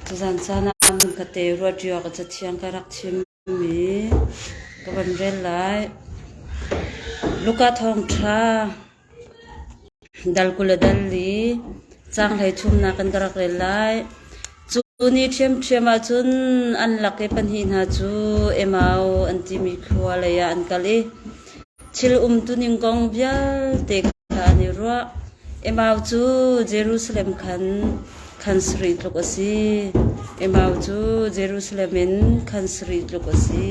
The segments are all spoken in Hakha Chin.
Tuzan caan ah kate ruat rio ah cathiang ka rak chim i ka van rel lai. Luka thawngṭha, dal kul le dal li, caang hleithumnak in ka rak rel lai. Cu ni ṭhiamṭhiam ahcun an lak i pahnih hna cu Emau an timi thlua leiah an kal i thil umtuning kong vialte kha an i ruah. Emau cu Jerusalem khan khan sarih tluk a si. Emau cu Jerusalem in khan sarih tluk a si.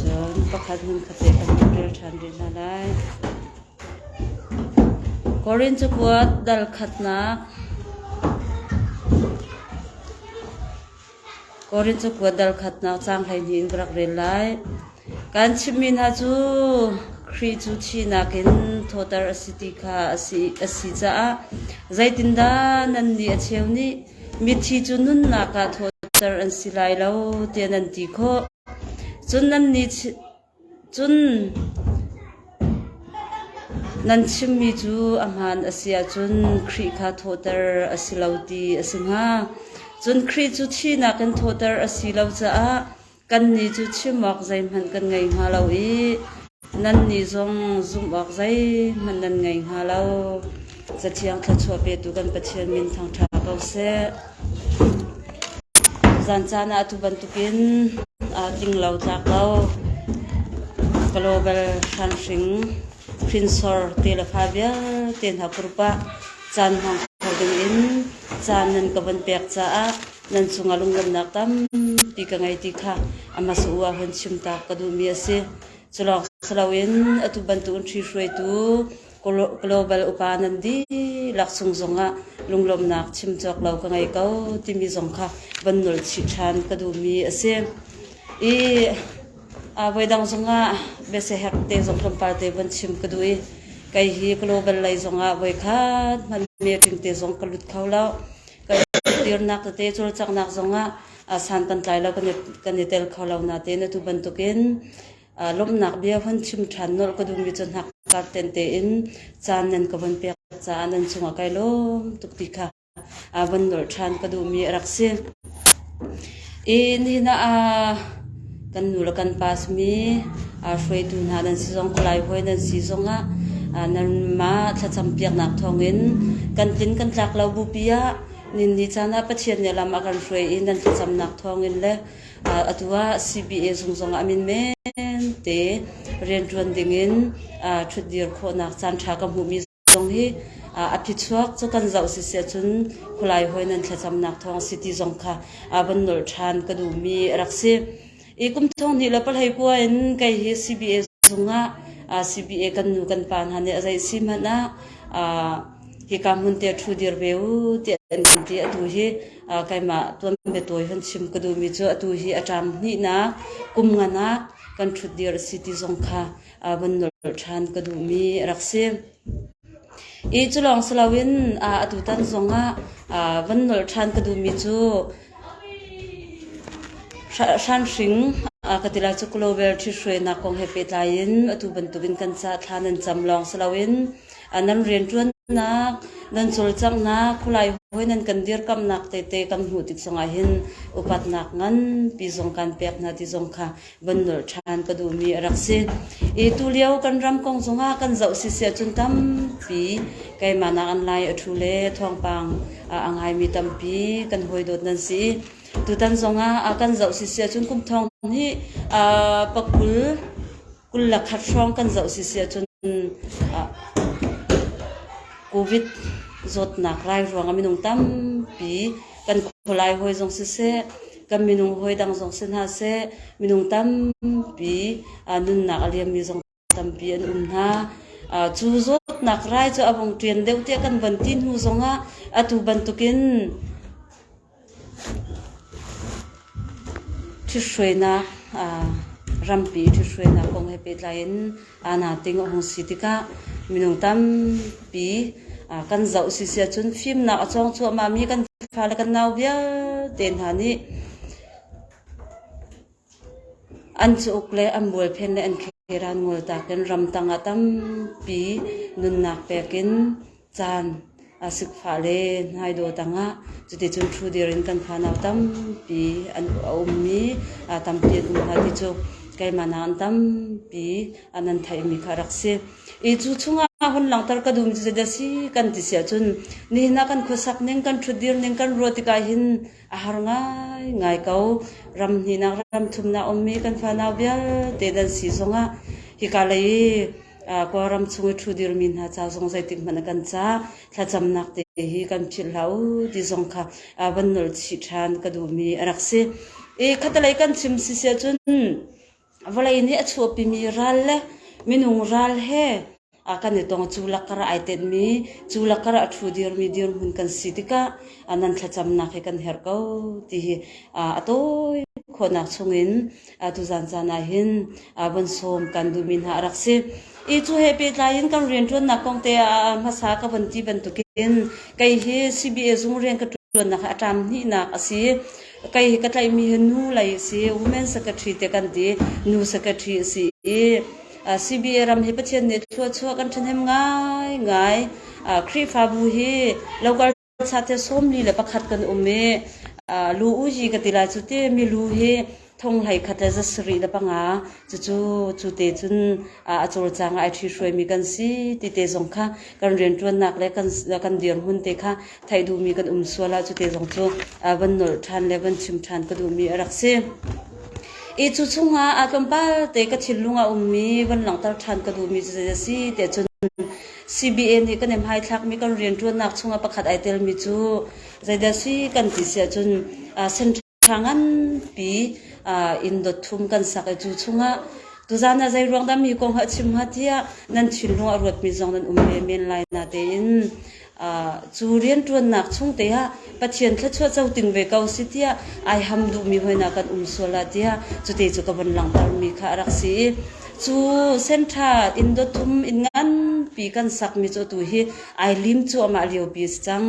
Cun pakhat hmun kha pek an hun rel ṭhan rih hna lai. Korin cakuat dal khatnak Korin cakuat dal khatnak caang hleihnih in ka rak rel lai. Kan chimmi hna cu Khrih cu thihnak in thawhter a si ti kha a si, a si caah zeitindah nannih a cheu nih mithi cu nunnak ah thawhter an si lai lo tiah nan ti khawh. Cun nan chimmi cu a hmaan a si ahcun Khrih kha thawhter a si lo ti a si hnga. Cun Khrih cu thihnak in thawhter a si lo caah kannih cu chim awk zeihmanh kan ngei hnga lo i Nannih zong zumh awk zeihmanh nan ngei hnga lo. Cathiang thluachuah petu kan Pathian min thangṭha ko seh. Zan caan ah atu bantukin aa tling lo tlak lo. Global hranhring hrinsor te le fa vialte hna purp ah caan hmang kho dingin caan nan ka von pek caah nan cungah lunglawmhnak tampi ka ngei ti kha amah sa u ahun chim taak ka duhmi a si. Culawng si loin atu bantukin ṭhihruaitu global upa nan dihlak cung zongah lunglawmhnak chim cawk lo ka ngei ko timi zong kha van nolh chih ṭhan ka duhmi a si. I voidang zongah biasehek te zong tlawmpal te van chim ka duh i kei hi global lei zongah voikhat hmanmi tling te zong ka lut kho lo. Kei tirnak tete cawlcanghnak zongah san kan tlai lo kan i tel kho lo natein atu bantukin lawmhnak bia von chim ṭhan nolh ka duhmi cu hnakkar tente in caan nan ka von pek caah nan cungah kai lawm tuk ti kha von nolh ṭhan ka duhmi a rak si. I nihin ah kan nu le kan pa simi hruaitu hna nan si zong Kalay hawi nan si zongah nanmah thlacam piaknak thawngin kan tlin kan tlak lo bupi ah Ninni caan ah Pathian nih a lam a kan hruai i nan thlacamnak thawngin le atu ah CBA zung zongah minmen te rianṭuan dingin ṭhutdir khawhnak caanṭha ka hmuhmi zong hi a phichuak cu kan zoh siseh cun khulai hawi nan thlacamnak thawng a si ti zong kha van nolh ṭhan ka duhmi a rak si. I kum thonghnih le pahlei kua in kei hi CBA zungah CBA kan nu kan pa hna nih a zei si hmanh ah hika hmun te thu dir ve u ti an kan ti. Atu hi keimah tuan bia tawi hun chim ka duhmi cu atu hi a ṭam hnihnak kum ngan ah kan thut dir a si ti zong kha vun nolh ṭhan ka duhmi a rak si. I cu lawng si loin atutan zongah van nolh ṭhan ka duhmi cu hranhring ka ti lai cu clover ṭhithruainak kong he pehtlai in atu bantukin kan ca'h thla nan cam lawng si loin nan rianṭuannak, nan cawlcanghnak, khulai hawi nan kan dirkamhnak tete kan hmuh tik zongah hin upatnak nganpi zong kan pek hna ti zong kha van nolh ṭhan ka duhmi a rak si. I tulio kan ram kong zongah kan zoh siseh cun tampi keimah nakin lai a ṭhu le thawngpang ah a ngaimi tampi kan hawi dawt nan si i tutan zongah a kan zoh siseh cun kum thong hi a pakul kul le khat hrawng kan zoh siseh cun ah COVID zawtnak rai ruangah minung tampi kan khualai hawi zong siseh kan minung hawi dang zong si hna seh minung tampi nunnak a liammi zong tampi an um hna. cu zawtnak rai cu a vong ṭian deuh tiah kan van ti hnu zongah atu bantukin ṭhithruainak rampi ṭhithruainak kong he pehtlai in aa nating a hung si tikah minung tampi kan zoh si si ahcun fimnak a cawng cuahmahmi kan fale kan nau vialte hna nih an cauk le an bualphen le an kheran ngol tak in ramtang ah tampi nunnak pek in caan a sik fah le hnai dawh tangah cuticun ṭhudir in kan fanau tampi an a ummi tampi an um hna ti cu keimah nakin tampi an an theihmi kha a rak si. I cu chungah hun langhter ka duhmi cu zeidah si kan ti siah cun nihin ah kan khuasak ning, kan ṭhutdir ning, kan ruah tikah hin a har ngaingai ko. Ram hnihnak ram thumnak a ummi kan fanau vialte nan si zongah hika lei i Kawlram chung i ṭhu dirmi hna ca zong zeitikhmanh a kan cah. Thlacamnak te hi kan philh hlah uh ti zong kha van nolh chih ṭhan ka duhmi a rak si. I khatalei kan chim si si ahcun vawlei nih a chuahpimi ral le minung ral he kan i tong. Cu lakah ai tenhmi, cu lakah a ṭhu dirmi dirhmun kan si tikah nan thlacamnak hi kan herh ko ti hi a tawi khawhnak chungin Atu zaanzaan ah hin van sawm kan duhmi hna a rak si. I cu he pehtlai in kan rianṭuannak kong te ah hmasa ka van ti bantuk in kei hi CBA zung rian ka ṭuannak hi a ṭam hnihnak a si. Kei hi ka tlaihmi hi nu lei a si. Women Secretary te kan ti. Nu Secretary a si i CBA ram hi Pathian nih thluachuah kan ṭhahnem ngaingai. Khrihfabu hi lokal Thla sawm li le pakhat kan um i lu u ji ka ti lai cu ti mi lu hi thong hlei khat le za sarih le panga cucu cute cun a cawlcang ah ai ṭhi hruai mi kan si ti te zong kha kan rianṭuannak le kan dirhmun te kha theih duh mi kan um sual ah cute zong cu van nolh ṭhan le van chim ṭhan ka duh mi a rak si. I cu chungah tlawmpal te ka thinlung a um mi van langhter ṭhan ka duh mi cu zei a si tiah cun CBA nih kan in hmaithlakmi kan rianṭuannak chungah pakhat ai telmi cu zeidah si kan ti si ahcun central nganpi in dot thum kan sak i cu chungah tuzaan ah zeiruang dah mi kong a chim hnga tiah nan thinlung a ruatmi zong nan um ve men lai na tein cu rianṭuannak chung te ah Pathian thluachuah co ting ve ko si tiah ai ham duhmi hoihna kan um sual ah tiah cute cu ka von langhtermi kha a rak si i cu senṭha inn dot thum inn nganpi kan sakmi cu tu hi ai lim cu amah liopi a si cang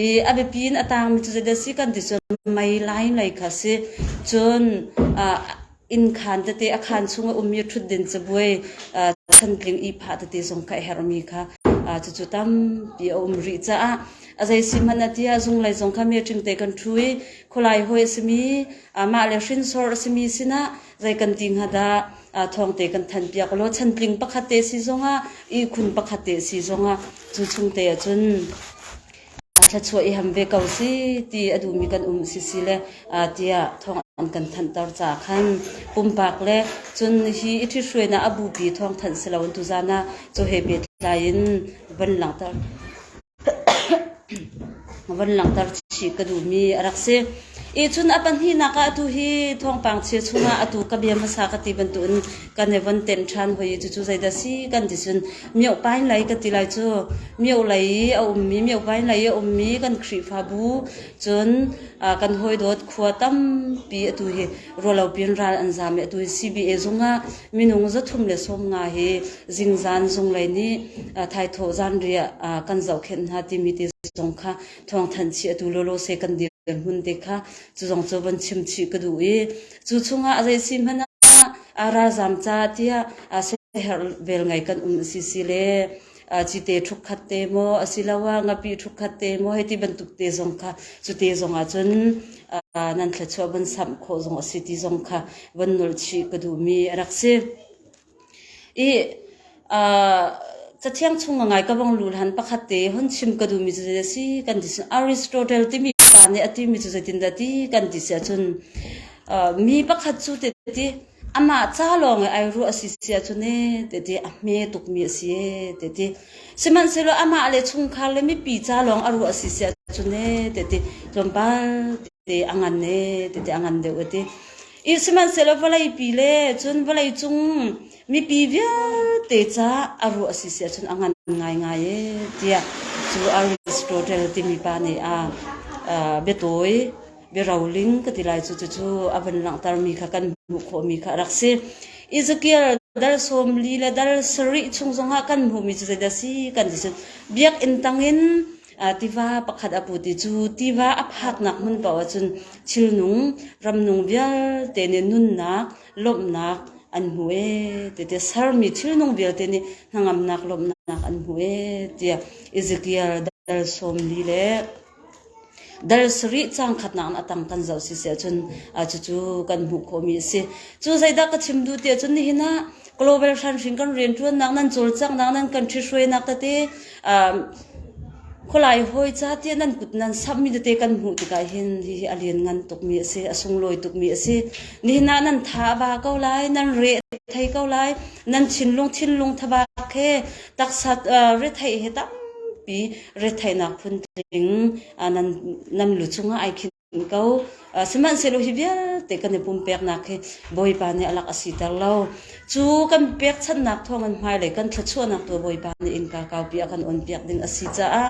i a biapi in a taangmi cu zeideh si kan ti cun mei lai lei kha si cun ah Innkhaan tete a khaan chung a ummi ṭhutdin cabuai chantling ihphah tete zong ka a herhmi kha cucu tampi a um rih caah a zei si hmanh a ti ah zunglei zong kha meṭing te kan ṭhu i khualai hawi a simi mah le hrinsor a simi sinah zei kan ti hnga dah thawng te kan thanpiak law chantling pakhat te si zongah ihkhun pakhat te si zongah cu chung te ahcun a thluachuah i ham ve ko si ti a duhmi kan um sisi le tiah thawng an kan thanhter caah khan pumpak le cun hi i ṭhithruainak a bupi thawng thanh si loin tuzaan ah cu he pehtlai in van langhter van langhter chih ka duhmi a rak si. I cun a pahnihnak ah atu hi thawngpang chia chungah atu ka bia hmasa ka ti bantukin kan i von tem ṭhan hoi i cucu zeidah si kan ti cun Miohpain lei ka ti lai cu. Mio lei i a ummi, miohpain lei i a ummi kan Khrihfabu cun kan hawidawt khua tampi atu hi ruallopi in ral an zaam i atu hi CBA zung ah minung zathum le sawm nga hi zingzan zunglei nih thaithawh zanriah kan zohkhenh hna timi ti zong kha thawngthanh chih atu lawlaw se kan dirhmun te kha cu zong cu van chim chih ka duh i Cu chungah zeisi hmanh ah aa ralzaam caah tiah siaherh vel ngai kan um a si si le cite ṭhukkhat te maw asiloah ngapi ṭhukkhat te maw hei ti bantuk te zong kha cute zong ahcun nan thluachuah von samh khawh zong a si ti zong kha von nolh chih ka duhmi a rak si. I cathiang chung a ngai ka vung lut han. Pakhat te hun chim ka duhmi cu zeidah a si kan ti. Aristotle timi pa nih a timi cu zeitindah a ti kan ti si ahcun mi pakhat cu tehti amah ca lawng i ai ruah a si si ahcun ee tehti a hme tukmi a si ee tehti. Sihmanhsehlaw amah le chungkhar le mipi ca lawng a ruah a si si ahcun ee tehti tlawmpal tehte a ngan ee tehti a ngan deuh a ti. I sihmanhsehlaw vawleipi le cun vawleicung mipi vialte caah a ruah a si siah cun a ngan ngaingai ee tiah cu Aristotle timi pa nih a uh, biatawi biaroling ka ti lai cu cucu a van langhtermi kha kan hmuh khawhmi kha a rak si Ezekiel dal sawm li le dal sarih chung zongah kan hmuhmi cu zeidah si kan ti cun biakinn tangin Tiva pakhat a put i cu tiva a phaknak hmun paoh ahcun thilnung, ramnung vialte nih nunnak, lawmhnak an hmu ee ti tiah sermi thilnung vialte nih hnangamnak, lawmhnak an hmu ee tiah Ezekiel dal sawmli le dal sarih cang khatnak in a tang kan zoh siseh cun cucu kan hmuh khawhmi a si. Cu zeidah ka chim duh ti ahcun nihin ah global hranhring kan rianṭuannak nan cawlcanghnak nan kan ṭhihruainak tete khualai hawi ca tiah nan kut nan samhmi tete kan hmuh tikah hin hihi a lianngan tukmi a si a sunglawi tukmi a si nihin ah nan tha a ba ko lai nan re thei ko lai nan thinlung thinlung thabak he taksa retheih he tampi retheihnak phun tling nan lu cungah ai khin ko. Sihmanhsehlaw hi vialte kan i pumpeknak hi Bawipa nih a lak a siter lo. Cu kan pekchanhnak thawngin hmailei kan thluachuahnak tu Bawipa nih innka kaupi a kan onpiak ding a si caah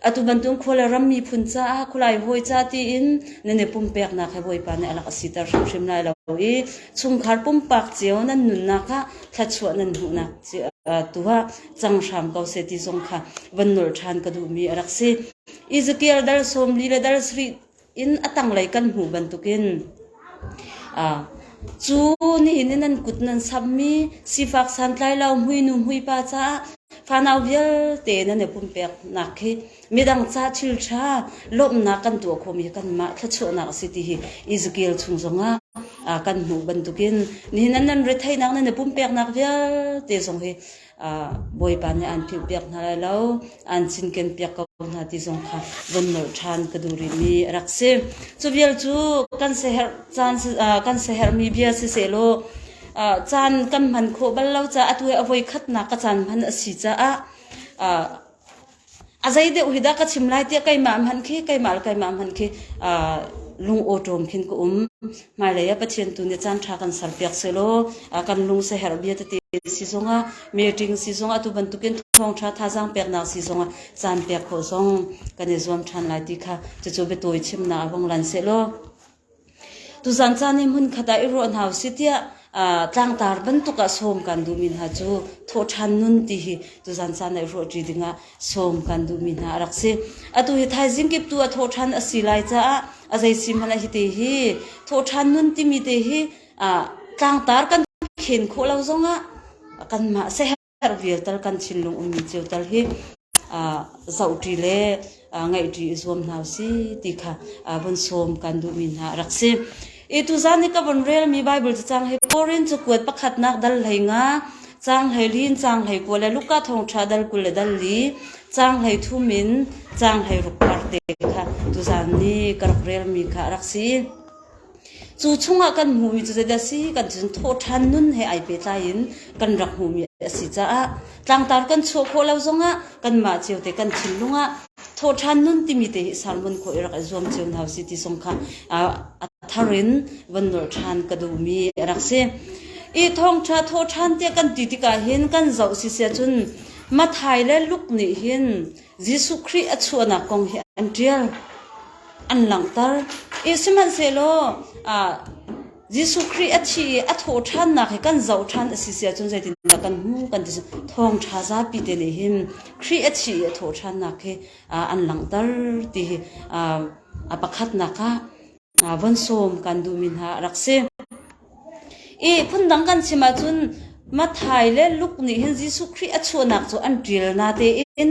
atu bantuk khua le ram miphun caah khulai hawi ca tiin nan i pumpeknak hi Bawipa nih a lak a siter hrimhrim lai lo i chungkhar pumpak cio nan nunnak kha thluachuah nan hmuhnak tuah cang hram ko seh ti zong kha van nolh ṭhan ka duhmi a rak si. Izatial dar sawmli le dar sarih in a tanglei kan hmuh bantukin cu nihin in nan kut nan sammi sifak santlailo muinu muipa caah fanau vialte nan i pumpeknak hi midang caah thilṭha lawmhnak kan tuah khawhmi hi kanmah thluachuahnak a si ti hi Ezekiel chung zongah kan hmuh bantukin nihin nan retheihnak nan i pumpeknak vialte zong hi Bawipa nih aan philhpiak hna lai lo, aan cinkenpiak ko hna ti zong kha vun nolh ṭhan ka duh rihmi a rak si. Cu vial cu kan siaherh caan kan siaherhmi bia sisehlaw caan kan hman khawh bal lo caah atu i a voi khatnak ka caan hman a si caah A zeideuh hi dah ka chim lai tiah keimah hmanh khi keimah le keimah hmanh khi aa lungawṭawm khin ka um. Hmailei ah Pathian tu nih caanṭha kan serpiak sehlaw a kan lung siaherh bia tete si zongah meeting si zongah tu bantukin thawngṭha thazaang peknak si zongah caan pek khawh zong kan i zuam ṭhan lai ti kha cucu biatawi chimnak a hung lan sehlaw Tuzaan caan i hmunkhat ah i ruah hna u sih tiah tlangtaar bantuk ah sawm kan duhmi hna cu thawhṭhan nun ti hi tuzaan caan ah i ruahṭi dingah sawm kan duhmi hna a rak si. Atu hi thaizing kip tu a thawhṭhan a si lai caah a zei sihmanhah hi te hi thawhṭhan nun timi te hi tlangtaar kan khen khawh lo zongah kanmah a si. Har vial tal kan thinlung ummi cio tal hi zoh ṭi le ngaih ṭi i zuam hna usih ti kha vun sawm kan duhmi hna a rak si. I tuzaan i ka vun relmi Baibal cacang hi Korin cu kuat pakhatnak dal hlei nga, cang hlei lin, cang hlei kua le Luka thawngṭha dal kul le dal li, cang hlei thum in cang hlei rukpar te kha tuzaan ni ka rak relmi kha a rak si. Cu chungah kan hmuhmi cu zeidah a si kan ti cun thawhṭhan nun he ai pehtlai in kan rak hmuhmi a si caah tlangtar kan chuah khawh lo zongah kanmah cio te kan thinlung ah thawhṭhan nun timi te hi sermon khawh i rak i zuam cio hna usih ti zong kha a thar in von nolh ṭhan ka duhmi a rak si. Hi thawngṭha thawhṭhan tiah kan ti tikah hin kan zoh siseh cun Matthai le Luke nih hin Jesuh Khrih a chuahnak kong hi an ṭial. An langhter. I sihmanhsehlaw ah, Jesuh Khrih a thi i a thawh ṭhannak hi kan zoh ṭhan a si siahcun zeitindah kan hmuh kan ti. Thawngṭha zapi te nih hin Khrih a thi i a thawh ṭhannak hi ah, an langhter ti hi ah, a pakhatnak ah von sawm kan duhmi hna a rak si. I phundang kan chim ahcun Matthai le Luke nih hin Jesuh Khrih a chuahnak cu an ṭial hna tein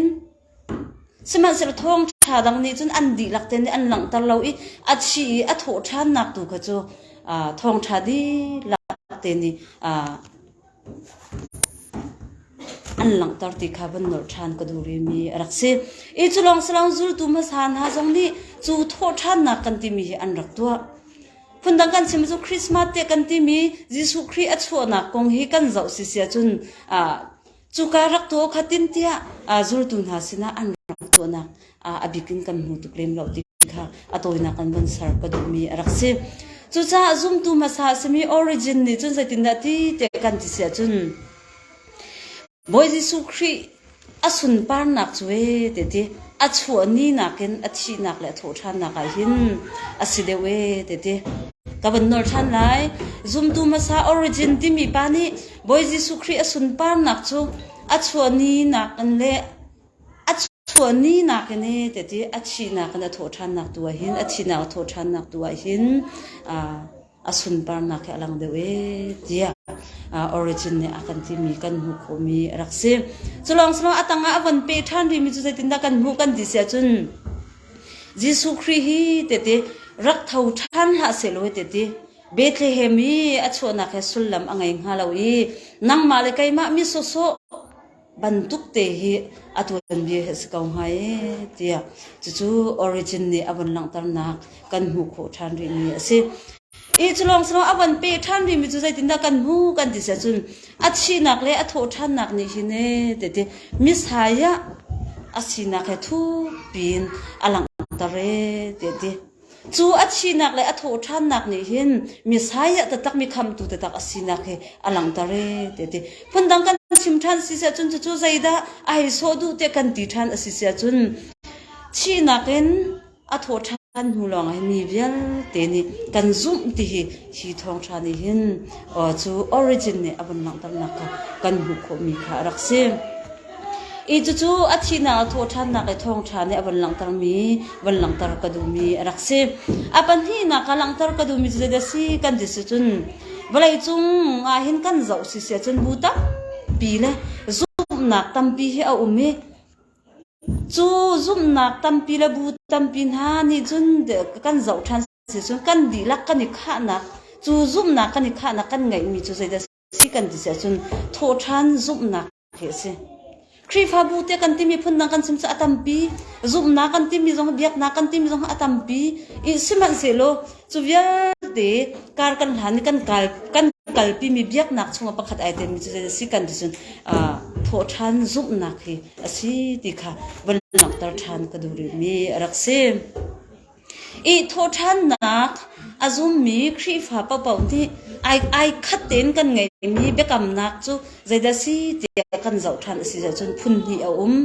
sihmanhsehlaw thawngṭha dang nih cun an dihlak tein an langhter lo i a thi i a thawh ṭhannak tu kha cu aa thawngṭha dihlak te nih aa an langhter ti kha van nolh ṭhan ka duh rihmi a rak si. I cu lawng si lo zultu hmasa hna zong nih cu thawhṭhannak kan timi hi an rak tuah. Phundang kan chim cu Christmas te kan timi Jesuh Khrih a chuahnak kong hi kan zoh si sia cun ah cuka rak tuah kha tin tiah zultu hna sinah an rak tuahnak a bik in kan hmu tuk lem lo ti kha a tawinak an von ser ka duhmi a rak si. Cucaah zumtu hmasa a simi Origin nih cun zeitindah ti te kan ti si ahcun Bawi Jesuh Khrih a sunparnak cu ee te ti a chuah ni nakin a thihnak le a thawhṭhannak ah hin a si deuh ee te ti. Ka van nawl ṭhan lai. Zumtu hmasa Origin timi pa nih Bawi Jesuh Khrih a sunparnak cu a chuah ni nakin le A chuahni nakin ee teti a thihnak in a thawh ṭhannak tu ahhin a thihnak a thawh ṭhannak tu ahhin aa a sunparnak hi a lang deuh ee tiah aa Origin nih a kan timi kan hmuh khawhmi a rak si. Cu lawng sihmanhsehlaw a tangah a van peh ṭhan rihmi cu zeitindah kan hmuh kan ti siah cun Jesuh Khrih hi teti rak tho ṭhan hlah sehlaw hi teti Bethlehem i a chuahnak hi sullam a ngei hnga lo i nangmah le keimah mi sawhsawh bantukte hi a tuanbia hi a si ko hnga ee tiah cucu Origin nih a vun langhternak kan hmuh khawh ṭhan rihmi a si. Ih cu lawng silo a van pe ṭhan rihmi cu zeitindah kan hmu kan ti siah cun a thihnak le a thawhṭhannak nih hin ee teti mishai ah a sinak he thukpiin a langhter ee teti. Cu a thihnak le a thawhṭhannak nih hin Messiah taktakmi khamhtu taktak a sinak hi a langhter ee te ti. Phundang kan chim ṭhan si siahcun cucu zeidah a hei sawh duh tiah kan ti ṭhan a si siahcun thihnak in a thawhṭhan hnu lawngah hi mi vialte nih kan zumh ti hi hi thawngṭha nih hin cu origin nih a vun langhternak kha kan hmuh khawhmi kha a rak si. I cucu a thihnak a thawhṭhannak le thawngṭha nih a van langhtermi van langhter ka duhmi a rak si. A pahnihnak ka langhter ka duhmi cu zeidah a si kan ti sicun vawleicung ah hin kan zoh si si ahcun bu tampi le zumhnak tampi hi a um i cu zumhnak tampi le bu tampi hna nih cun kan zoh ṭhan si cun kan dihlak kan i khahnak cu zumhnak kan i khahnak kan ngeihmi cu zeidah a si? Si kan ti ahcun thawhṭhan zumhnak hi a si. Khrihfabu tiah kan timi phundang kan chim cu a tampi. Zumhnak kan timi zong, biaknak kan timi zong a tampi. I sihmanhsehlaw cu vialte kar kan hlan i kan kal kan kalpimi biaknak chungah pakhat ai telmi cu si kan ti cun uh, thawhṭhan zumhnak hi a si ti kha vun langhter ṭhan ka duh rihmi a rak si. Ih thawhṭhannak a zummi Khrihfa paoh nih ai khat tein kan ngeihmi biakamnak cu zeidah a si tiah kan zoh ṭhan a si zocun phunhnih a um.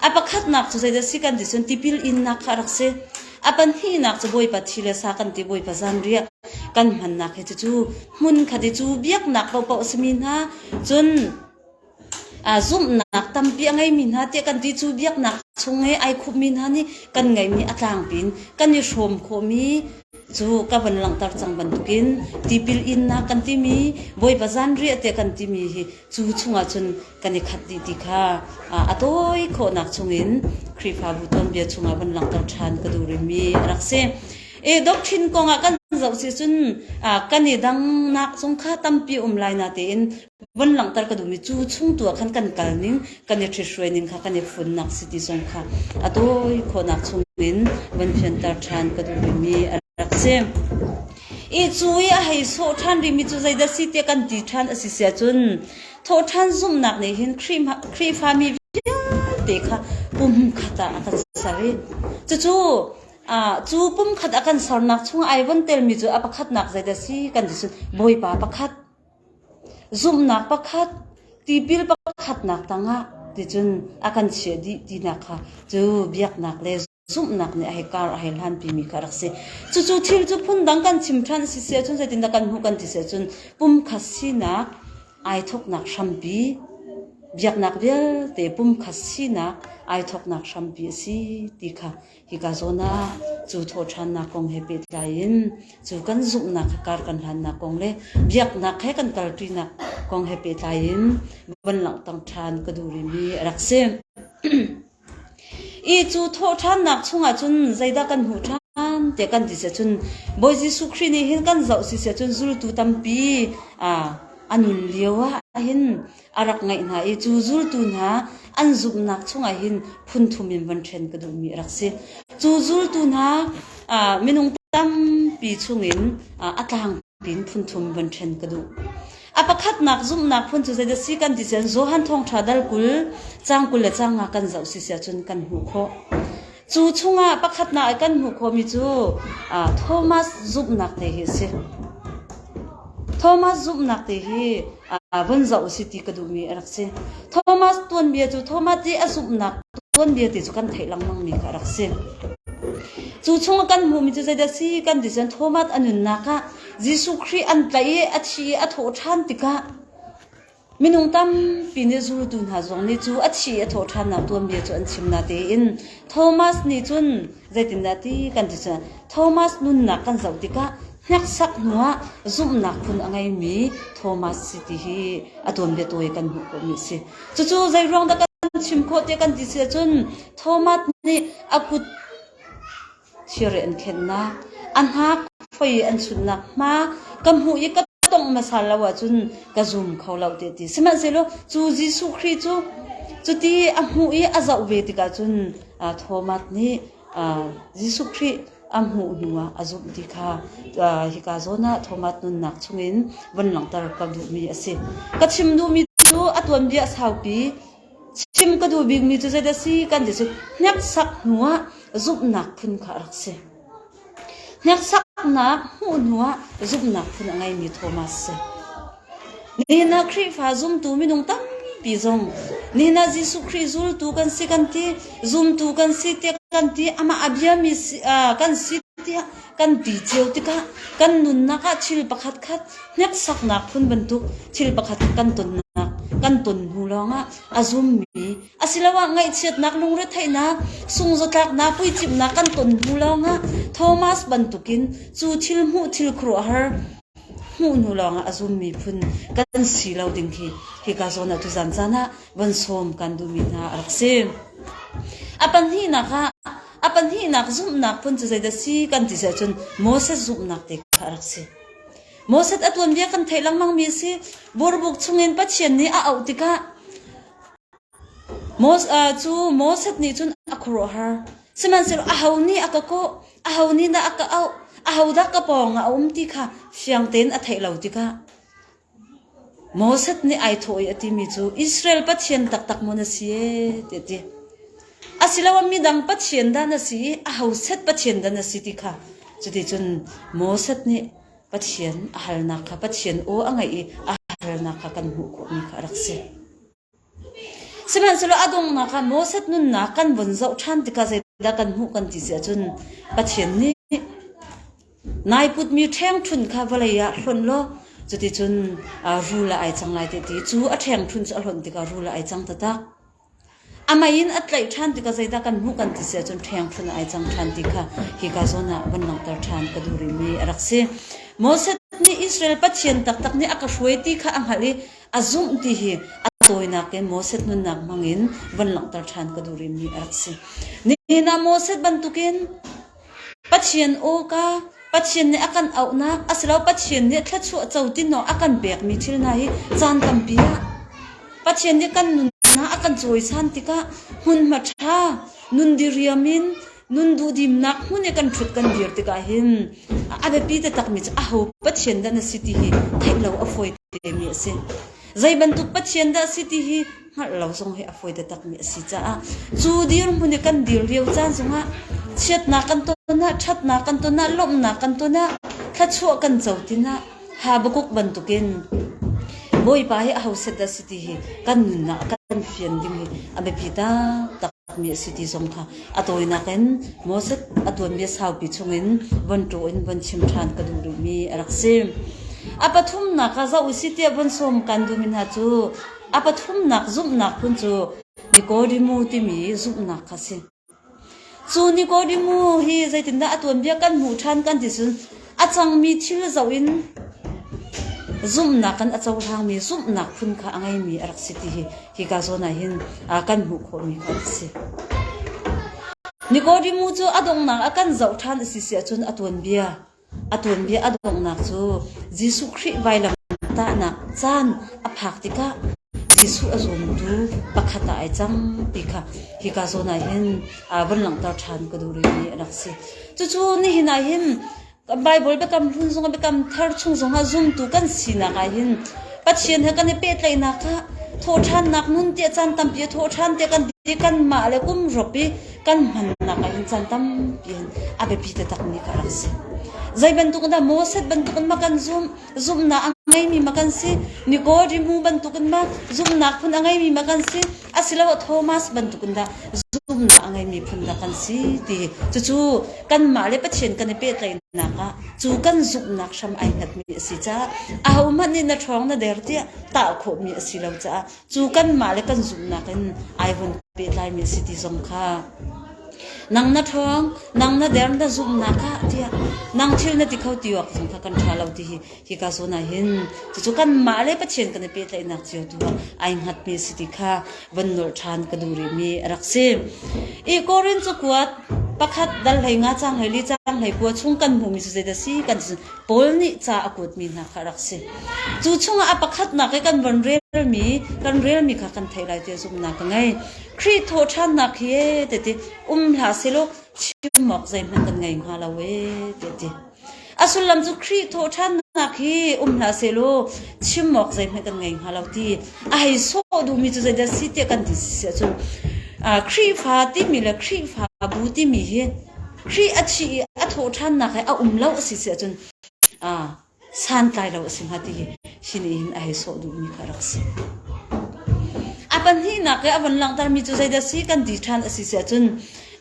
A pakhatnak cu zeidah a si kan ti cun tipil innak kha a rak si. A pahnihnak cu Bawipa thi le sa kan ti, Bawipa zanriah kan hmannak hi cucu hmun khat i cu biaknak paohpaoh a simi hna cun Zumhnak tampi a ngeimi hna tiah kan ti cu biaknak chung i ai khupmi hna nih kan ngeihmi a tlangpi in kan i hrawm khawhmi cu ka van langhter cang bantukin tipil innak kan timi Bawipa zanriah tiah kan timi hi cu chungah cun kan i khat dih ti kha a tawi khawhnak chungin Khrihfabu tuanbia chungah van langhter ṭhan ka duh rihmi a rak si. I doctrine kongah kan zoh si cun kan i dangnak zong kha tampi um lai na tein Vun langhter ka duhmi cu chung tu ah khan kan kal ning, kan i ṭhithruai ning kha kan i funnak si ti zong kha a tawi khawhnak chungin vun fianter ṭhan ka duhmi mi a rak si. I cu i a hei sawh ṭhan rihmi cu zeidah si tiah kan ti ṭhan a si si ahcun thawhṭhan zumhnak nih hin Khrihfa Khrihfami vialte kha pumkhat ah a kan ser i cucu ah cu pumkhat a kan sernak chungah ai von telmi cu a pakhatnak zeidah si kan ti cun Bawipa pakhat Zumhnak pakhat, tipil pakhatnak tangah ticun a kan chiah dih tinak kha cu biaknak le zumhnak nih a hei kar a hei hlanpimi kha a rak si. Cucu thil cu phundang kan chim ṭhan a si siahcun zeitindah kan hmuh kan ti siahcun pumkhat sinak ai thawknak hrampi, biaknak vialte pumkhat sinak ai thawknak hrampi a si ti kha Hika zawn ah cu thawhṭhannak kong he pehtlai in cu kan zumhnak he kar kan hlannak kong le biaknak he kan kalṭinak kong he pehtlai in van langhtak ṭhan ka duh rihmi a rak si. I cu thawhṭhannak chungah cun zeidah kan hmuh ṭhan tiah kan ti siah cun Bawi Jesuh Khrih nih hin kan zoh si siah cun zultu tampi aa a nun lio ah hin a rak ngaih hna i cu zultu hna an zumhnak chungah hin phunthum in van ṭhen ka duhmi a rak si. Cu zultu hna minung tampi chungin a tlangpi in phunthum van ṭhen ka duh. A pakhatnak zumhnak phun cu zeidah si kan ti cun Johan Thawngṭha dal kul, caang kul le caang nga kan zoh si sia cun kan hmuh khawh. Cu chungah pakhatnak i kan hmuh khawhmi cu Thomas zumhnak te hi a si. Thomas zumhnak te hi vun zoh u sih ti ka duhmi a rak si. Thomas tuanbia cu Thomas i a zumhnak tuanbia te cu kan theih lengmangmi kha a rak si. Cu chungah kan hmuhmi cu zeidah si kan ti cun Thomas a nunnak ah Jesuh Khrih an tlaih i a thi i a thawh ṭhan tikah Minung tampi nih zultu hna zong nih cu a thi i a thawhṭhannak tuanbia cu an chim. Natein Thomas nih cun zeitindah ti kan ti cu, Thomas nunnak kan zoh tikah hneksak hnuah zumhnak phun a ngeimi Thomas si ti hi a tuanbia tawi kan hmuh khawhmi a si. Cucu zeiruang dah kan chim khawh tiah kan ti si ahcun Thomas nih a kut Sireh an khennak, a hnak phoi an chun nakhnga ka hmuh i ka tongh hmasa lo ahcun ka zum kho lo tiah a ti. Sihmanhsehlaw cu Jesuh Khrih cu cuti a hmuh i a zoh ve tikah cun aa Thomas nih aa Jesuh Khrih a hmuh hnuah a zumh ti kha aa hika zawn ah Thomas nunnak chungin vun langhter ka duhmi a si. Ka chim duhmi cu a tuanbia saupi Chim ka duh bikmi cu zeidah a si kan ti cu hneksak hnuah zumhnak phun kha a rak si. Hneksaknak hmuh hnuah zumhnak phun a ngeimi Thomas a si. Nihin ah Khrihfa zumtu minung tampi zong nihin ah Jesuh Khrih zultu kan si kan ti, zumtu kan si tiah kan ti, amah a biami si, ah kan si tiah Kan ti cio tikah kan nunnak ah thil pakhatkhat hneksaknak phun bantuk thil pakhat kan tonnak kan ton hnu lawngah a zummi asiloah ngaihchiatnak, lungretheihnak, sungzawtlaknak, puicimhnak kan ton hnu lawngah Thomas bantukin cu thil hmuh thil khuaruahhar hmuh hnu lawngah a zummi phun kan si lo ding hi hika zawn ah tuzan caan ah van sawm kan duhmi hna a rak si. A pahnihnak ah A pahnihnak zumhnak phun cu zeidah si kan ti seh cun Moses zumhnak te kha a rak si. Moses a tuanbia kan theih lengmangmi a si. Burbuk chungin Pathian nih a auh tikah Moses, uh, cu Moses nih cun a khuaruahhar. Sihmanhsehlaw aho nih a ka kawh, aho nih dah a ka auh, aho dah ka pawng ah a um ti kha fiang tein a theih lo tikah Moses nih ai thawh i a timi cu Israel pathian taktak maw na si tiah a ti. Asiloah midang pathian dah na si i aho set pathian dah na si ti kha cuticun Moses nih Pathian a halnak kha Pathian aw a ngaih i a halnak kha kan hmuh khawhmi kha a rak si. Sihmanhsehlaw a donghnak ah Moses nunnak kan vun zoh ṭhan tikah zeidah kan hmuh kan ti si ahcun Pathian nih nai putmi ṭhengṭhunh kha vawlei ah hlonh law cuticun rul ah ai cang lai tiah ti i cu a ṭhengṭhunh cu a hlonh tikah rul ah ai cang taktak. A mei in a tlaih ṭhan tikah zeidah kan hmuh kan ti si ahcun ṭhengṭhunh ah ai cang ṭhan ti kha hika zawn ah van langhter ṭhan ka duh rihmi a rak si. Moses nih Israel Pathian taktak nih a ka hruai ti kha a hngalh i A zumh ti hi a tawinak in Moses nunnak hmangin van langhter ṭhan ka duh rihmi a rak si. Nihin ah Moses bantukin Pathian awka, Pathian nih a kan auhnak, asilo Pathian nih thluachuah co tinawk a kan pekmi thil hna hi caan tampi ah Pathian nih kan nunnak a kan cawisan tikah hmunhma ṭha, nun diriam in Nun duhdimnak hmun i kan ṭhut kan dir tikah hin a biapi taktakmi cu aho Pathian dah na si ti hi theih lo a fawi temi a si. Zei bantuk Pathian dah a si ti hi hngalh lo zong hi a fawi taktakmi a si caah cu dirhmun i kan dir lio caan zongah chiatnak kan ton ah, ṭhatnak kan ton ah, lawmhnak kan ton ah, thluachuah kan co tinah Habakuk bantukin Bawipa hi aho set dah a si ti hi kan nunnak a kan fian ding hi a biapi taktak. Mi a si ti zong kha a tawinak in Moses a tuanbia saupi chungin von ṭaw in von chim ṭhan ka duh duhmi a rak si. A pathumnak ah zoh u si tiah von sawm kan duhmi hna cu a pathumnak zumhnak phun cu Nikodimu timi zumhnak kha a si. Cu Nikodimu hi zeitindah a tuanbia kan hmuh ṭhan kan ti cun A cangmi thil zoh in zumhnak kan a cohlangmi zumhnak phun kha a ngeimi a rak si ti hi hika zawn ah hin kan hmuh khawhmi kha a si. Nikodemu cu a donghnak a kan zoh ṭhan a si si ahcun a tuanbia a tuanbia a donghnak cu Jesuh Khrih vailamtahnak caan a phak tikah Jesuh a zumtu pakhat ah ai cang ti kha hika zawn ah hin vun langhter ṭhan ka duh rihmi a rak si. Cucu nihin ah hin Bible biakam hlun zong ah biakam thar chung zong ah zumtu kan sinak ah hin Pathian he kan i pehtlaihnak kha thawhṭhannak nun tiah caan tampi a thawhṭhan tiah kan di kanmah le kum rop i kan hmannak ah hin caan tampi in a biapi taktakmi kha a rak si. Zei bantuk in dah Moses bantuk in mah kan zumh Zumhnak a ngeimi ma kan si. Nikodemu bantukin ma zumhnak phun a ngeimi ma kan si. Asiloah Thomas bantukin dah zumhnak a ngeimi phun dah kan si ti. Cucu kanmah le Pathian kan i pehtlaihnak ah cu kan zumhnak hram ai hngatmi a si caah ahohmanh nih na ṭhawng na der tiah tah khawhmi a si lo caah Cu kanmah le kan zumhnak in ai hun pehtlaimi a si ti zong kha nang na ṭhawng, nang na der, na zumhnak ah tiah nang thil na ti kho ti awk zong kha kan ṭha lo ti hi hika zawn ah hin cucu kanmah le Pathian kan i pehtlaihnak cio tu ah ai hngatmi a si ti kha von nolh ṭhan ka duh rihmi a rak si. I Korin cakuat pakhat dal hlei nga cang hlei li cang hlei kua chung kan hmuhmi cu zeidah a si kan Paul nih ca a kuatmi hna kha a rak si. Cu chungah a pakhatnak i kan van relmi kan relmi kha kan theih lai tiah zumhnak ka ngei. Khrih thawhṭhannak hi ee ti ti um hlah selaw chim awk zeihmanh kan ngei hnga lo ee ti ti. A sullam cu Khrih thawhṭhannak hi um hlah selaw chim awk zeihmanh kan ngei hnga lo ti a hei sawh duhmi cu zeidah si tiah kan ti si ahcun ah, Khrihfa timi le Khrihfa bu timi hi Khrih a thi i a thaw ṭhannak he a um lo a si si ahcun aa santlai lo a si hnga ti hi sinihin a hei sawh duhmi kha a rak si. A pahnihnak i a van langhtermi cu zeidah si kan ti ṭhan a si si ahcun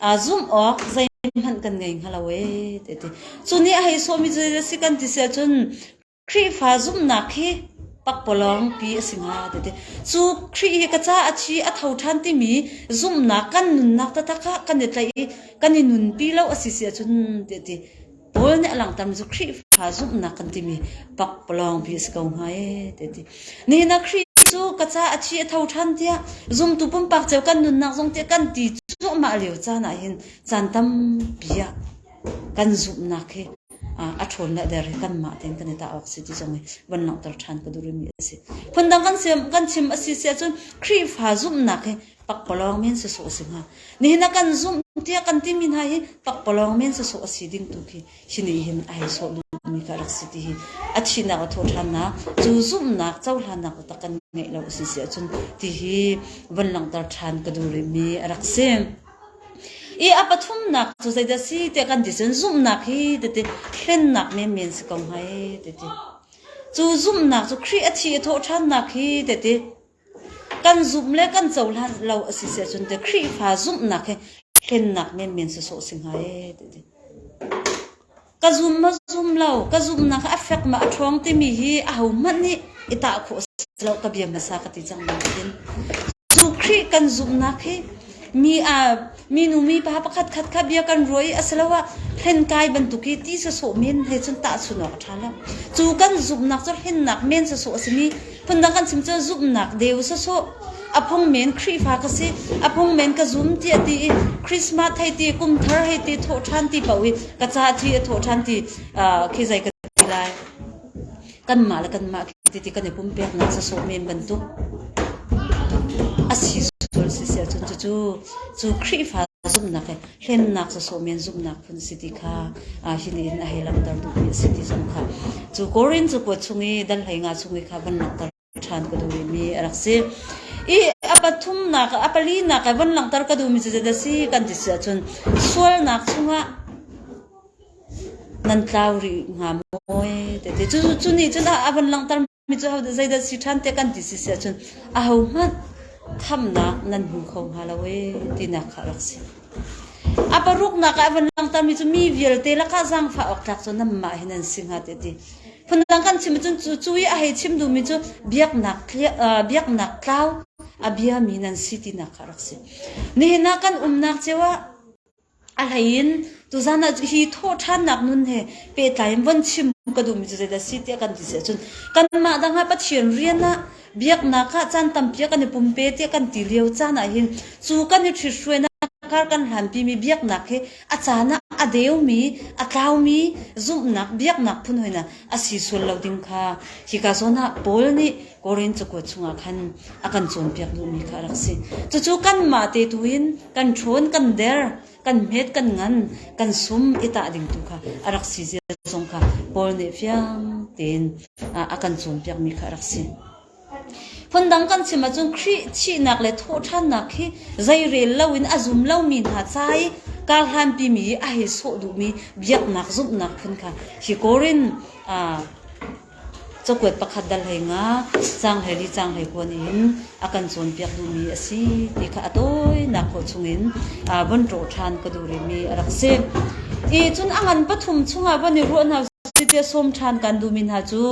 aa zumh awk zeihmanh kan ngei hnga lo ee te ti. Cu nih a hei sawhmi cu zeidah si kan ti si ahcun Khrihfa zumhnak hi pakpalawngpi a si hnga a ti. Cu Khrih hi ka caah a thi a tho ṭhan timi zumhnak kan nunnak taktak ah kan i tlaih i kan i nunpi lo a si si ahcun ti a ti. Paul nih a langhtermi cu Khrihfa zumhnak kan timi pakpalawngpi a si ko hnga ee ti a ti. Nihin ah Khrih cu ka caah a thi a tho ṭhan tiah zumtu pumpak cio kan nunnak zong tiah kan ti cuahmah lio caan ah hin caan tampi ah kan zumhnak hi a ṭhawnnak a der hi kanmah tein kan i tah awk a si ti zong hi van langhter ṭhan ka duh rihmi a si. Phundang kan chim a si si ahcun Khrihfa zumhnak hi pakpalawng men sawsawh a si hnga. Nihin a kan zumh tiah kan timi hna hi pakpalawng men sawsawh a si ding tu khi hi nih hin ai sawh duhmi ka rak si ti hi a thihnak a thaw ṭhannak cu zumhnak cohlannak taktak kan ngeih lo a si si ahcun ti hi van langhter ṭhan ka duh rihmi a rak si. I a pathumnak cu zeidah a si tiah kan ti cun zumhnak hi tete hlennak menmen a si ko hnga ee tete. Cu zumhnak cu Khrih a thi i thawh ṭhannak hi tete kan zumh le kan cohlan lo a si siah cun tete Khrihfa zumhnak hi hlennak menmen sawsawh a si hnga ee tete. Ka zum maw zum lo, ka zumhnak a fek maw a ṭhawng timi hi ahohmanh nih i tah khawh a si lo. Ka bia hmasa ka ti cang nain Jesuh Khrih kan zumhnak hi mi aa minu mipa pakhatkhat kha bia kan ruah i asiloah hlenkai bantuk i ti sawsawh men he cun tahchunh awk a ṭha lo. Cu kan zumhnak cu hlennak men sawsawh a simi Phundang kan chim cu zumhnak deu sawsawh. A phung men Khrihfa ka si, a phung men ka zum tiah ti i Christmas hei ti, kumthar hei ti thawh ṭhan ti paoh i ka ca thi a thawh ṭhan ti khi zei ka ti lai. Kanmah le kanmah ti ti kan i pumpeknak sawsawh men bantuk. A si sual si si ahcun cucu cu Khrihfa zumhnak he hlennak sasawm men zumhnak phun si ti kha hi nihin a hei langhter duhmi a si ti zong kha cu Korin cu kuat chung i dan hlei nga chung i kha van langhter ṭhan ka duhmi mi a rak si i a pathumnak a palinak ah van langhter ka duhmi cu zedah si kan ti si ahcun sualnak chungah nan tlau rih hnga maw? Cucu nih cun a van langhter Mi cu ahodah zeidah si ṭhan tiah kan ti si si ahcun ahohmanh thamnak nan hmu kho hnga lo i tinak kha rak si. A paruknak ah a van langhtermi cu mi vialte lakah zaangfah awk tlak cu nanmah hi nan si hnga tiah ti. Phundang kan chim ahcun cu cu i a hei chim duhmi cu biaknak tli- uh, biaknak tlau a biami nan si tinak kha rak si. Nihin ah kan umnak cio ah A hleiin tuzaan ah hi thawhṭhannak nun he pehtlai in von chim ka duhmi cu zeidah a si tiah kan ti si ahcun kanmah dang ah Pathian rian ah biaknak ah caan tampi ah kan i pumpe tiah kan ti lio caan ahhin cu kan i ṭhithruainak kar kan hlanpimi biaknak hi a caan ah a deumi, a tlaumi zumhnak biaknak phun hoi hna a si sual lo ding kha hika zawn ah Paul nih Korin cakuat chungah khan a kan cawnpiak duhmi kha a rak si. Cucu kanmah te tu in kan ṭhawn, kan der, kan hmet, kan ngan, kan sum i tah ding tu kha a rak si zia zong kha Paul nih fiang tein a kan cawnpiakmi kha a rak si. Phundang kan chim ahcun Khrih thihnak le thawhṭhannak hi zeirel loin a zum lomi hna ca i karhlanpi mi a hei sawh duhmi biaknak zumhnak phun kha hi Korin Cakuat pakhat dal hlei ngak caanghleir li caanghleir kuan in a kan cawnpiak duhmi a si ti kha a tawinak khawh chungin von rawh ṭhan ka duh rihmi a rak si. I cun a ngan pathum chungah von i ruah hna usih tiah sawm ṭhan kaan duhmi hna cu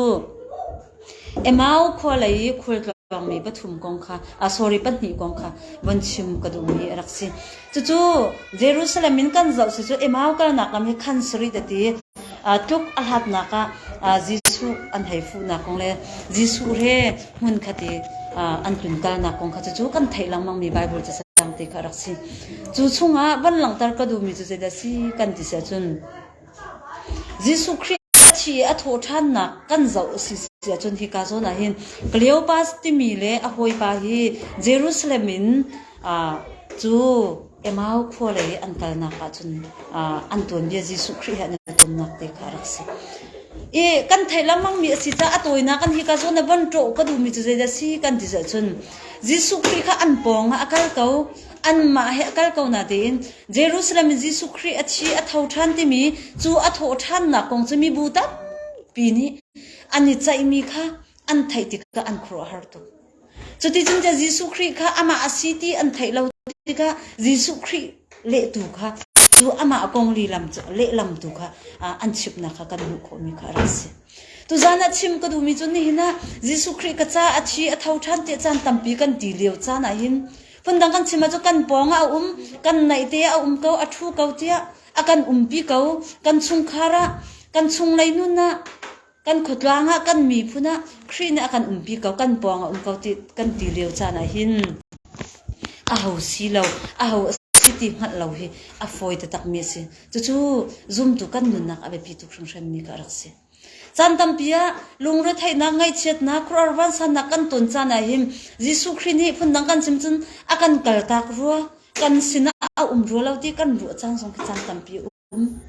Emau khua lei i khualtlawngmi pathum kong kha, a sorry, pahnih kong kha von chim ka duhmi a rak si. Cucu Jerusalem in kan zoh cucu Emau kalnak lam hi khan sarih a ti. Tluk a hlatnak ah Jesuh an hei fuhnak kong le Jesuh he hmun khat i an tlun kalnak kong kha cucu kan theih lengmangmi Baibal casang ti kha rak si. Cu chungah van langhter ka duhmi cu zeidah a si kan ti siah cun, Jesuh Khrih nih a thi i a thawh ṭhannak kan zoh a si ahcun hika zawn ah hin Kleopas timi le a hawipa hi Jerusalem in cu Emau khua lei an kalnak ahcun an tuanbia Jesuh Khrih he an i tumnak te kha a rak si. I kan theih lengmangmi a si caah a tawinak in hika zawn ah van ṭawh ka duhmi cu zeidah a si kan ti zocun Jesuh Khrih kha an pawng ah a kal ko. Anmah he a kal ko na tein Jerusalem in Jesuh Khrih a thi a tho ṭhan timi cu a thawh ṭhannak kong cu mibu tampi nih an i ceihmi kha an theih tikah an khuaruahhar tuk. Cuticun cun Jesuh Khrih kha amah a si ti an theih lo tikah Jesuh Khrih lehtu kha cu amah kong lehlam cu lehlam tu kha an chimnak kha kan hmuh khawhmi kha a rak si. Tuzan ah chim ka duhmi cu nihin ah Jesuh Khrih ka ca a thi a tho ṭhan tiah caan tampi kan ti lio caan ah hin Phundang kan chim ahcun kan pawng ah a um, kan naihte ah a um ko, a ṭhu ko tiah a kan umpi ko. Kan chungkhar ah, kan chung lei nun ah, kan khuatlang ah, kan miphun ah Khrih nih a kan umpi ko, kan pawng ah um ko ti kan ti lio caan ah hin aho si lo, aho a si ti hngalh lo hi a fawi taktakmi a si. Cucu zumtu kan nunnak a biapi tuk hringhranmi ka rak si. Caan tampi ah lungretheihnak, ngaihchiatnak, khuaruahhar vansannak kan ton caan ahhin Jesuh Khrih nih phundang kan chim cun a kan kaltak rua, kan sinah a um rua lo ti kan ruah cang zong khi caan tampi a um.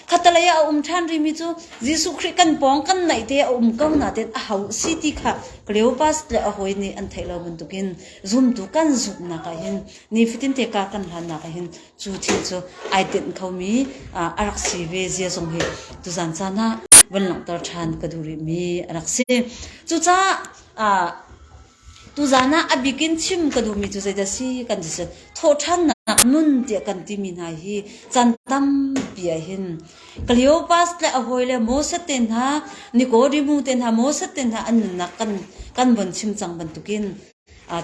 Khatalei ah a um ṭhan rihmi cu Jesuh Khrih kan pawng kan naih te a um ko natein a ho si ti kha Cleopas le a hawi nih an theih lo bantukin zumtu kan zumhnak ahhin nifatinte kaa kan hlannak ahhin Cu thil cu ai tinh khomi a rak si ve zia zong hi tuzan caan ah van langhter ṭhan ka duh rihmi a rak si. Cucaah tuzan ah a bik in chim ka duhmi cu zeidah a si kan ti si. Thawhṭhannak nun tiah kan timi hna hi caan tampi ahhin Kleopas le a hawi le Moses te hna, Nikodimu te hna, Moses te hna an nunnak kan von chim cang bantukin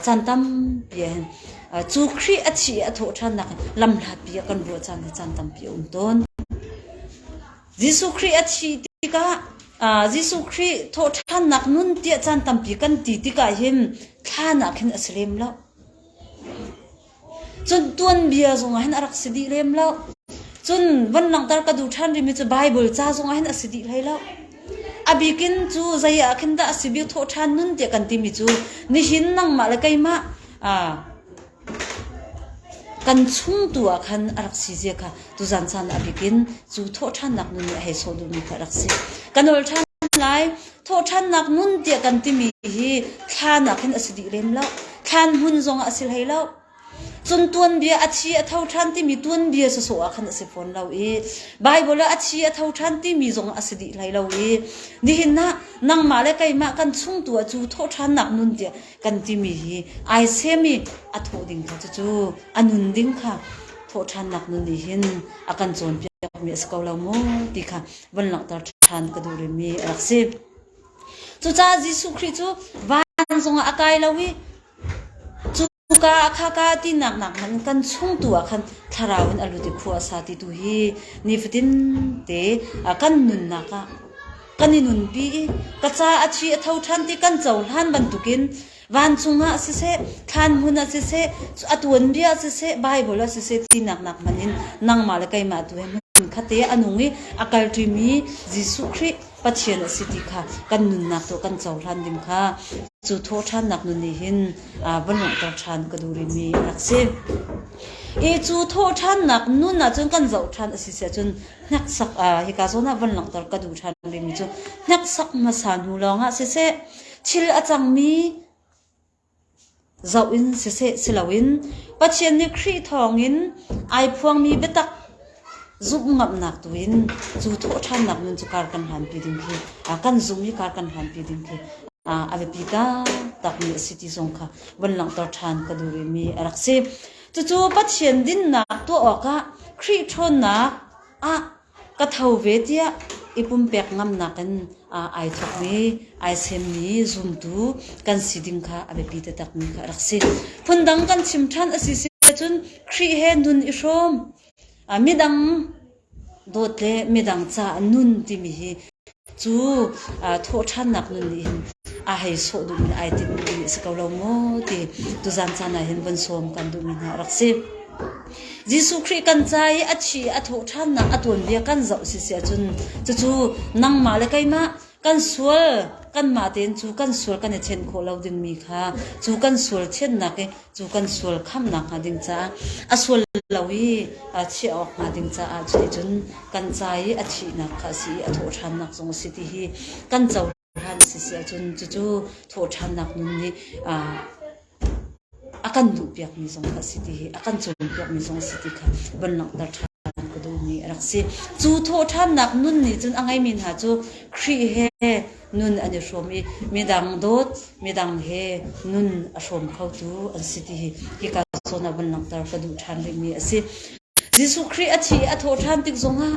Caan tampi ahhin cu Khrih a thih i a thawhṭhannak in lam hlapi ah kan ruah caan hi caan tampi a um tawn. Jesuh Khrih a thih tikah Jesuh Khrih thawhṭhannak nun tiah caan tampi kan ti tikah hin thla nakin a si lem lo. Cun tuanbia zongah hin a rak si dih lem lo. Cun van langhter ka duh ṭhan rihmi cu Baibal ca zongah hin a si dih hlei lo. A bik in cu zei ah khin dah a si bik thawh ṭhan nun tiah kan timi cu nihin nangmah le keimah aa kan chung tu ah khan a rak si zia kha tuzan caan ah a bik in cu thawhṭhannak nun nih a hei sawh duhmi kha a rak si. Kan ol ṭhan lai. Thawhṭhannak nun tiah kan timi hi thla nakin a si dih lem lo. Thlan hmun zongah a si hlei lo. Cun tuanbia a thi a tho ṭhan timi tuanbia sawsawh ah khan a si fawn lo i Baibal ah a thi a tho ṭhan timi zongah a si dih hlei lo i nihin ah nangmah le keimah kan chungtu ah cu thawhṭhannak nun tiah kan timi hi ai sem i a thawh ding kha cucu a nun ding kha thawhṭhannak nun nih hin a kan cawnpiakmi a si ko lo mu ti kha van langhter ṭhan ka duh rihmi a rak si. Cucaah Jesuh Khrih cu van zongah a kai lo i cuka ah khaka tinak nakhmanh in kan chungtu ah khan thlarau in a lut i khua a sa ti tu hi nifatin te kan nunnak ah kan i nunpi i ka ca a thi a tho ṭhan ti kan cohlan bantukin vancung ah siseh, thlan hmun ah siseh, a tuanbia ah siseh, Baibal ah siseh tinak nak hman in nangmah le keimah tu he hmun khatte a nung i a kalṭimi Jesuh Khrih Pathian a si ti kha kan nunnak tu kan cohlan ding kha cu thawhṭhannak nun nih hin va lunghter ṭhan ka durimi a rak si. I cu thawhṭhannak nun ahcun kan zoh ṭhan a si siahcun hneksak hika zawn ah van langhter ka duh ṭhan rimi cu hneksak hmasa hnu lawngah siseh Thil a cangmi zoh in siseh siloin Pathian nih Khrih thawngin ai phuangmi biatak zumhngamhnak tu in cu thawhṭhannak nun cu kar kan hlanpi ding khi kan zum i kar kan hlanpi ding khi a biapi taktakmi a si ti zong kha vun langhter ṭhan ka duh rihmi a rak si. Cucu Pathian dinnak tuah awkah Khrih ṭhawnnak ah Ka tho ve tiah i pumpek ngamnak in ai thawkmi, ai semmi zumtu kan si ding kha a biapi taktakmi kha a rak si. Phundang kan chim ṭhan a si si ahcun Khrih he nun i hrawm. Midang dawt le midang caah nun timi hi Cu thawhṭhannak nun nih hin aa hei sawh duhmi, ai timh duhmi a si ko lo maw ti tuzan caan ah hin vun sawm kan duhmi hna rak si. Jesuh Khrih kan ca i a thi, a thawhṭhannak a tuanbia kan zoh siseh cun cucu nangmah le keimah kan sual kanmah tein cu kan sual kan i ṭhen khawh lo dingmi kha cu kan sual ṭhennak i cu kan sual khamnak hnga ding caah a sual lo i chiah awk hnga ding caah cuticun kan ca i a thihnak kha a si i a thawhṭhannak zong a si ti hi kan cohlan a si si ahcun cucu thawhṭhannak nun nih a kan duhpiakmi zong kha a si ti hi a kan cawnpiakmi zong a si ti kha van langhter ṭhan ka duhmi a rak si. Cu thawhṭhannak nun nih cun a ngeimi hna cu Khrih he nun an i hrawm i midang dawt midang he nun a hrawm khotu an si ti hi ka zawn ah vun langhter ka duh ṭhan rihmi a si. Jesuh Khrih a thih i a thawh ṭhan tik zongah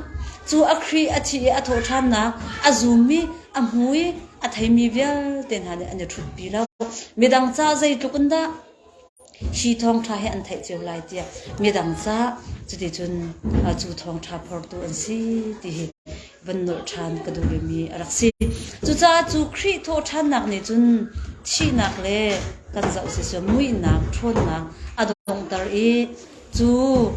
cu a Khrih a thih i a thawh ṭhannak a zummi, a hmu i a theimi vialte hna nih an i ṭhutpi lo. Midang ca zeitluk in dah Hi thawngṭha hi an theih cio lai tiah midang cah cuticun cu thawngṭha phortu an si ti hi van nolh ṭhan ka duh rihmi a rak si. Cucaah cu Khrih thawhṭhannak nih cun thihnak le kan zoh siseh muihnak, ṭhawnnak a donghter i Cu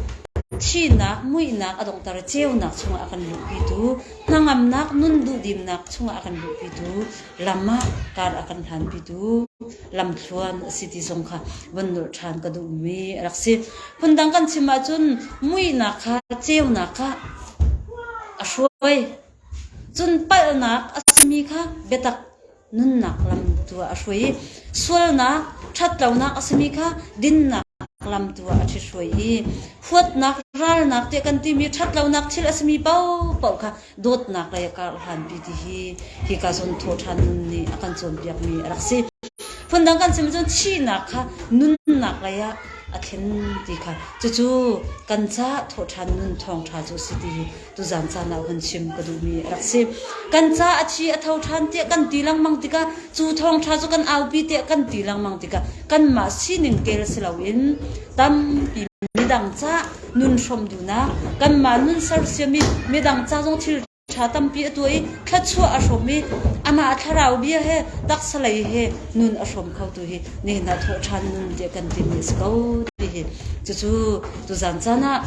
thihnak muihnak a donghter ceunak chungah a kan luhpitu, hnangamnak nun duhdimnak chungah a kan luhpitu, lam ah kar a kan hlanpitu, lamthluan a si ti zong kha van nurh ṭhan ka duhmi a rak si. Phundang kan chim ahcun muihnak kha, ceunak kha a hruai. Cun palhnak a simi kha biatak nunnak lam tu ah a hruai i sualnak ṭhatlonak a simi kha dinnak lam tu ah a ṭhithruai i huatnak ralnak tiah kan timi ṭhatlonak thil a simi paohpaoh kha dawtnak lei a karh hlanpi ti hi hi ka zon thaw ṭhan nun nih a kan cawnpiakmi a rak si. Phundang kan sim cun thihnak kha nunnak lei ah a thlen ti kha cucu kan ca thawhṭhan nun thawngṭha cu si ti hi Tuzaan caan ah han chim ka duhmi a rak si. Kan ca a thi a tho ṭhan tiah kan ti lengmang tikah cu thawngṭha cu kan aupi tiah kan ti lengmang tikah kanmah sining kel si loin tampi midang ca nun hrawm duhnak kanmah nun sersiam i midang ca zong thil ṭha tampi a tuah i thluachuah a hrawm i amah thlarau bia he taksa lei he nun a hrawm kho tu hi nihin ah thawhṭhan nun tiah kan timi a si ko ti hi cucu tuzaan caan ah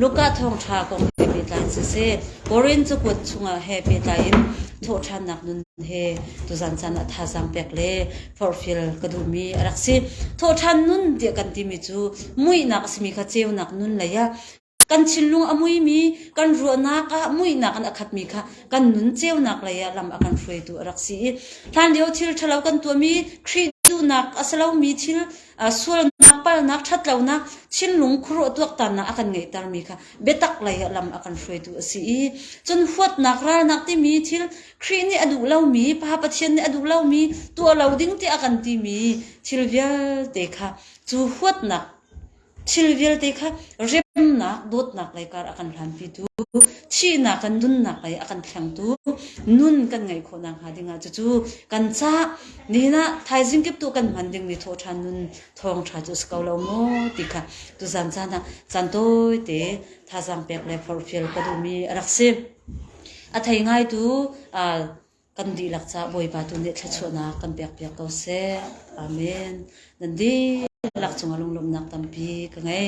Luka thawngṭha kong he pehtlai siseh, Korin cakuat chungah he pehtlai in thawhṭhannak nun he tuzan caan ah thazaang pek le forhfial ka duhmi a rak si. Thawhṭhan nun tiah kan timi cu muihnak a simi kha ceunak nun lei ah kan thinlung a muimi, kan ruahnak ah muihnak in a khatmi kha kan nun ceunak lei ah lam a kan hruaitu a rak si i hlanlio thil ṭhalo kan tuahmi, Khrih duhnak a si lomi thil Sualnak, palhnak, ṭhatlonak, thinlung khuaruah tuaktannak a kan ngeihtermi kha biatak lei ah lam a kan hruaitu a si i cun huatnak, ralnak timi thil Khrih nih a duh lomi, Pa Pathian nih a duh lomi, tuah lo ding tiah a kan timi thil vialte kha cu huatnak thil vialte kha remnak, dawtnak lei kar a kan hlanpitu, thihnak kan nunnak lei a kan thlengtu, nun kan ngeih khawh nakhnga dingah cucu kan cah. Nihin ah thaizing kip tu kan hman dingmi thawhṭhan nun thawngṭha cu a si ko lo mu ti kha tuzan caan ah caan tawite thazaang pek le forhfial ka duhmi a rak si. A thei ngaitu aa kan dihlak caah Bawipa tu nih thluachuahnak kan pekpiak ko seh. Amen. Nan dihlak cungah lunglawmhnak tampi ka ngei.